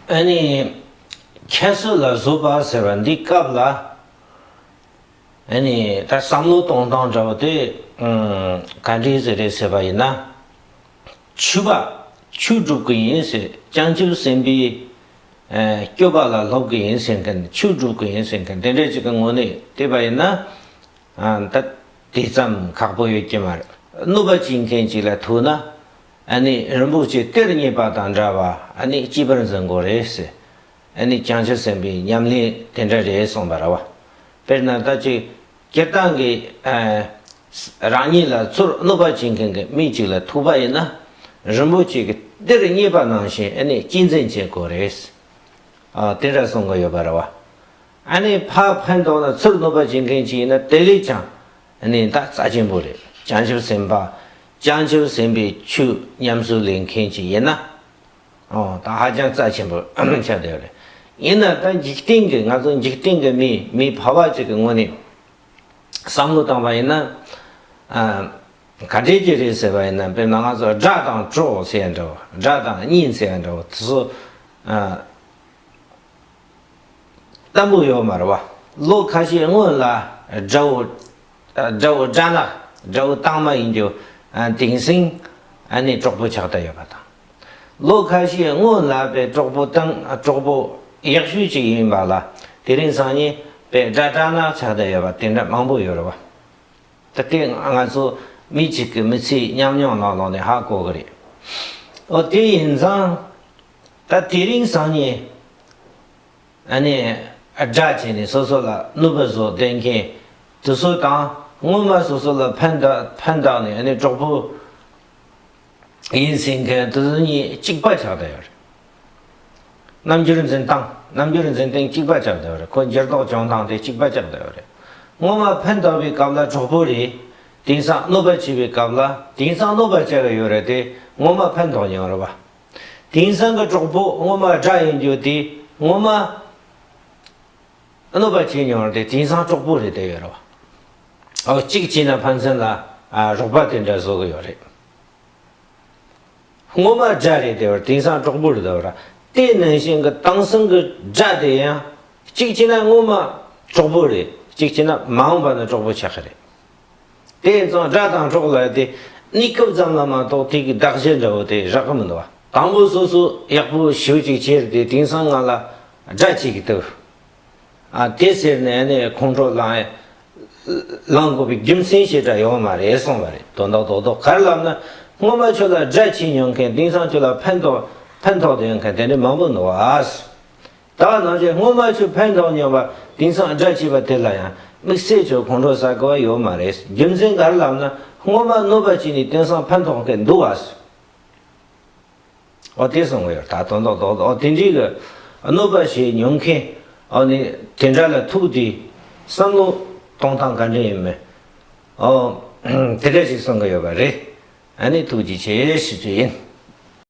ཨ་ནི། ཁྱད་གསོད་ལ་བཟོད་པ་ཟེར་བ་འདི་སྐབས་ལ། ཨ་ནི། ད་བསམ་བློ་གཏོང་སྟངས་འདྲ་བོ་དེ། ག་འདྲའི་ཟེར་རེད་ཟེར་བ་ཡིན་ན། ཆུ་བ། ཆུ་བསྒྲུབ་གི་ཡིན་ཟེར་སྤྱང་ཆུ་སྲིན་པོའི། སྐྱོ་བ་ལ་སློབ་གི་ཡིན་ཟེར་མཁན་ཆུ་བསྒྲུབ་གི་ཡིན་ཟེར་མཁན་དེ་འདྲ་ཅིག་གི་ངོ་ནས་བལྟས་པ་ཡིན་ན། ད་དེ་ཙམ་ཁག་པོ་ཡོད་ཀྱི་མ་རེད། གནོད་པ་བྱེད་མཁན་ཅིག་ལ་ཐུག་ན། ཨ་ནི་རིན་པོ་ཆེ་གཏེར་རྙེད་པ་དང་འདྲ་བ་ཨ་ནི་སྐྱིད་པར་འཛིན་དགོས་རེད་ཟེར། ཨ་ནི་བྱང་ཆུབ་སེམས་དཔའི་ཉམས་ལེན་དེ་འདྲ་རེད་གསུངས་པ་ར་བ། དཔེར་ན་ད་ཅིག་སྤྱིར་བཏང་གི། རང་ཉིད་ལ་ཚུར་གནོད་པ་བྱེད་མཁན་གྱི་མི་གཅིག་ལ་ཐུག་པ་ཡིན་ན། རིན་པོ་ཆེ་གི་གཏེར་རྙེད་པ་ནང་བཞིན་ཨ་ནི་སྐྱིད་འཛིན་བྱེད་དགོས་རེད། དེ་འདྲ་གསུངས་གི་ཡོད་པ་ར་བ། ཨ་ནི་ཕ་ཕན་ཐོག་ན་ཚུར་གནོད་པ་བྱེད་མཁན་གཅིག་ཡིན་ན་དེ་ལས་ཀྱང་གནས་བདག་རྩ་ཆེན་པོ་རེད། བྱང་ཆུབ་སེམས་དཔའ། བྱང་ཆུབ་སེམས་དཔའི་ཆོས་ཉམས་སུ་ལེན་མཁན་ཅིག་ཡིན་ན། ཨོ་ད་ཧ་ཅང་རྩ་ཆེན་པོ་ཆགས་བསྡད་པ་རེད། ཡིན་ན་ད་འཇིག་རྟེན་གྱི་ང་ཚོ་འཇིག་རྟེན་གྱི་མིས་མི་ཕལ་བ་ཅིག་གི་ངོ་ནས་བསམ་བློ་བཏང་བ་ཡིན་ན། ག་དྲེད་ཀྱི་རེད་ཟེར་བ་ཡིན་ན་དཔེར་ན་ང་ཚོ་སྒྲ་དང་ཀྲོ་ཟེར་ཡ་འདྲ་བོ་སྒྲ་དང་སྙིང་ཟེར་ཡ་འདྲ་བོ་དེ་ཚོ། སྟམ་བུ་ཡོ་མར་བ་ལོ་ཁ་ཤས་སྔོན་ལ་དགྲ་བོ་དགྲ་བོ་དགྲ་ནག་དགྲ་བོ་དྭངས་མ་ཡིན་རྒྱུ་དེང་སིང་ནས་གྲོགས་པོ་ཆགས་ད་ཡོད་པ་དང། ལོ་ཁ་ཤས་སྔོན་ལ་པའི་གྲོགས་པོ་དང་གྲོགས་པོ་ཡག་ཤོས་ཅིག་ཡིན་པ་ལ་དེ་རིང་སང་ཉིན་པའི་དགྲ་དགྲ་ནག་ཆགས་ད་ཡོད་པ་དེ་འདྲ་མང་པོ་ཡོད་རེད་བ། ད་ལྟའི་ང་ཚོ་མི་གཅིག་གི་མི་ཚེའི་ཉམས་མྱོང་ལ་ལོག་ནས་ཧ་གོ་གི་རེད། འོ་དེ་ཡིན་ཙང། ད་དེ་རིང་སང་ཉིན་ཨ་ནེ་སྦྲགས་བྱས་ནས་སོ་སོ་ལ་གནོད་པ་བཟོ་བསྡད་མཁན་དེ་ཚོ་དང་སྔོན་མ་སོ་སོ་ལ་ཕན་བཏགས་ནས་ཨ་ནེ་གྲོགས་པོ་ཡིན་ཟེར་མཁན་དེ་ཚོ་གཉིས་གཅིག་པ་ཆགས་བསྡད་ཡོད་རེད། རྣམ་འགྱུར་འཛིན་སྟངས་རྣམ་འགྱུར་འཛིན་སྟངས་གཅིག་པ་ཆགས་བསྡད་ཡོད་རེད་ཁོ་འགྱུར་ལྡོག་བྱུང་སྟངས་དེ་གཅིག་པ་ཆགས་བསྡད་ཡོད་རེད། སྔོན་མ་ཕན་བཏགས་པའི་སྐབས་ལ་གྲོགས་པོ་རེད་དེང་སང་གནོད་པ་བྱས་པའི་སྐབས་ལ་དེང་སང་གནོད་པ་བྱས་པ་ཡོད་རེད་དེ་སྔོན་མ་ཕན་ཐོགས་མྱོང་རེད་པ། དེང་སང་གི་གྲོགས་པོ་སྔོན་མ་དགྲ་ཡིན་རྒྱུ་དེ་སྔོན་མ་གནོད་པ་བྱས་མྱོང་དེ་དེང་སང་གྲོགས་པོ་རེད་དེ་ཡོད་རེད་བ། གཅིག་བྱས་ན་ཕན་ཚུན་ལ་རོགས་པ་དེ་འདྲ་བཟོ་གི་ཡོད་རེད། སྔོན་མ་དགྲ་རེད་དེ་བ་དེང་སང་གྲོགས་པོ་རེད་དེ་བ། དེ་ནང་བཞིན་གི་དེང་སང་གི་དགྲ་དེ་ཡང་གཅིག་བྱས་ན་སྔོན་མ་གྲོགས་པོ་རེད་གཅིག་བྱས་ན་མ་འོངས་པ་ན་གྲོགས་པོ་ཆགས་ཀྱི་རེད། དེ་ཡིན་ཙང་སྒྲ་དང་གྲོགས་ལ་དེ་གནས་སྐབས་ཙམ་ལ་མ་གཏོགས་དེ་གི་གདགས་གཞི་འདྲ་བོ་དེ་རག་གི་མི་འདུག་བ། དང་པོ་སོ་སོ་ཡག་པོ་ཞུ་ཅིག་ཁྱེར་དེ་དེང་སང་ང་ལ་སྒྲ་གཅིག་གི་ལྟོས། ཨ་དེ་ཟེར་ནས་ནི་ཁོང་ཁྲོ་ལངས་དགོས་པའི་རྒྱུ་མཚན་ཞིག་འདྲ་ཡོད་མ་རེད་གསུངས་པ་རེད་དོ་འདག་འདོག་འདོག་གར་ལབ་ན་སྔོན་མ་ཁྱོད་ལ་སྒྲ་གཅིག་ཉོ་མཁན་དེང་སང་ཁྱོད་ལ་ཕན་ཐོགས་ཕན་ཐོགས་དུ་ཡོད་མཁན་དེ་འདྲ་མང་པོ་འདུག་བ། ད་བར་ནང་ཆོས་སྔོན་མ་ཆོས་ཕན་འདོགས་མྱོང་པ་དེང་སང་སྒྲ་ཕྱེས་པ་དེ་ལ་ཡང་དམིགས་བསལ་ཆོས་གོང་འཕྲོ་ཟ་དགོས་པ་ཡོད་མ་རེད་རྒྱུ་མཚན་ག་རེ་ལབ་ན་སྔོན་མ་གནོད་པ་བྱས་ནས་དེང་སང་ཕན་ཐོགས་ཐེ་འདུག་བ་སོ། ཨོ་དེ་གསུང་གི་ཡོད་ད་དོན་དོག་དོག་དོག་དེ་འདྲིའི་གི་གནོད་པ་བྱས་མྱོང་མཁན་ཨོ་ནི་དེ་འདྲ་ལ་ཐུག་དེ་བསམ་བློ་གཏོང་སྟངས་ག་འདྲ་ཡིན་མིན་ཨོ་དེ་འདྲ་ཞིག་གསུང་གི་ཡོད་པ་རེད་ཨ་ནི་ཐུགས་རྗེ་ཆེ་ཞུ་རྒྱུ་ཡིན།